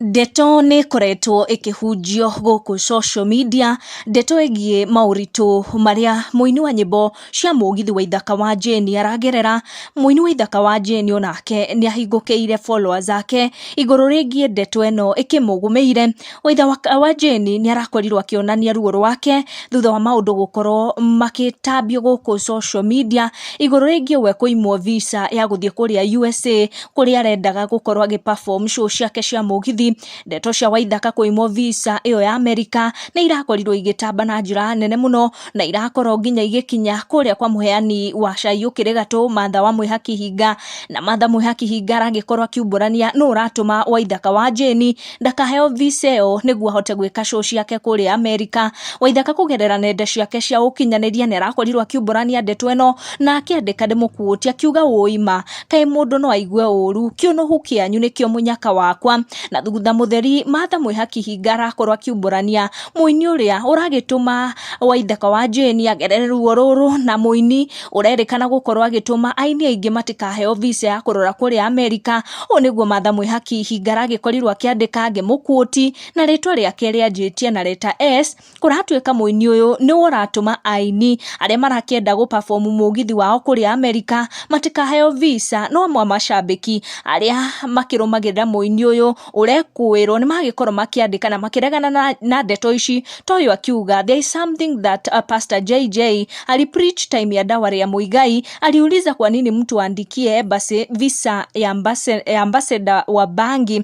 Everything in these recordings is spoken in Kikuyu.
Ndeto nĩ ĩkoretwo ĩkĩhunjio gũkũ social media, ndeto ĩgiĩ maũritũ marĩa mũini wa nyĩmbo cia mũgithi wa ithaka wa Jane aragerera. Mũini wa ithaka wa Jane o nake nĩ ahingũkĩire followers ake igũrũ rĩgiĩ ndeto ĩno ĩkĩmũgũmĩire. Waitha wa Jane nĩ arakorirwo akĩonania ruo rwake thutha wa maũndũ gũkorwo magĩtambio gũkũ social media, igũrũ rĩgiĩ we kũimwo visa ya gũthiĩ kũrĩa USA. kũrĩa arendaga gũkorwo agĩ perform show ciake cia mũgithi ndeto cia waithaka kũimwo visa ĩyo ya amerika nĩ irakorirwo igĩtamba na njĩra nene mũno na irakorwo nginya igĩkinya kũrĩa kwa mũheani wa cai ũkĩrĩ gatũ matha wa mwĩha kĩhinga na matha mwĩha kĩhinga aragĩkorwo akiumbũrania nũ ũratũma waithaka wa jeni ndakaheo visa ĩyo nĩguo ahote gwĩka show ciake kũrĩa amerika waithaka kũgerera nenda ciake cia ũkinyanĩria nĩ arakorirwo akiumbũrania ndeto ĩno na akĩandĩka ndĩmũkuũti akiuga ũima Kaĩ mũndũ no aigue ũũru? Kĩũnũhu kĩanyu nĩkĩo mũnyaka wakwa. Na thutha mũtheri Martha Mwĩhakihinga arakorwo akiumbũrania mũini ũrĩa ũragĩtũma Waithaka wa Jane agerere ruo rũrũ na mũini ũrerĩkana gũkorwo agĩtũma aini aingĩ matikaheo visa ya kũrora kũrĩa Amerika. Ũũ nĩguo Martha Mwĩhakihinga aragĩkorirwo akĩandĩka ngĩmũ quote na rĩtwa rĩake rĩanjĩtie na letter S. kũratuĩka mũini ũyũ nĩ ũratũma aini arĩa marakĩenda gũbabomu mũgithi wao kũrĩa Amerika matikaheo visa no amwe macambĩki arĩa makĩrũmagĩrĩra mũini ũyũ ũrekũĩrwo nĩ magĩkorwo makĩandĩka na makĩregana na, na ndeto ici ta ũyũ akiuga there is something that uh, pastor JJ alipreach time ya dawa ya Muigai aliuliza kwa nini mtu aandikie embassy visa ya ambassa- ya ambassador wa bangi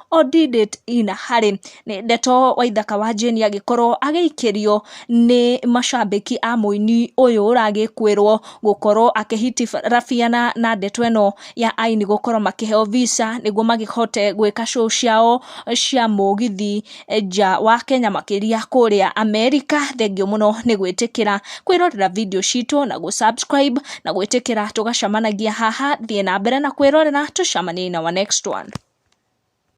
o did it in harĩ ndeto waithaka wa jane agĩkorwo agĩikĩrio nĩ macambĩki a mũini ũyũ ũragĩkũĩrwo gũkorwo akĩhitirabiana na ndeto ĩno ya aini gũkorwo makĩheo visa nĩguo makĩhote gwĩka show ciao cia mũgithi nja wa kenya makĩria kũrĩa america thengiũ mũno nĩ gwĩtĩkĩra kwĩrorera video citũ na gũ subscribe na gwĩtĩkĩra tũgacemanagia haha thiĩ na mbere na kwĩrorera tũcemanie in our next one.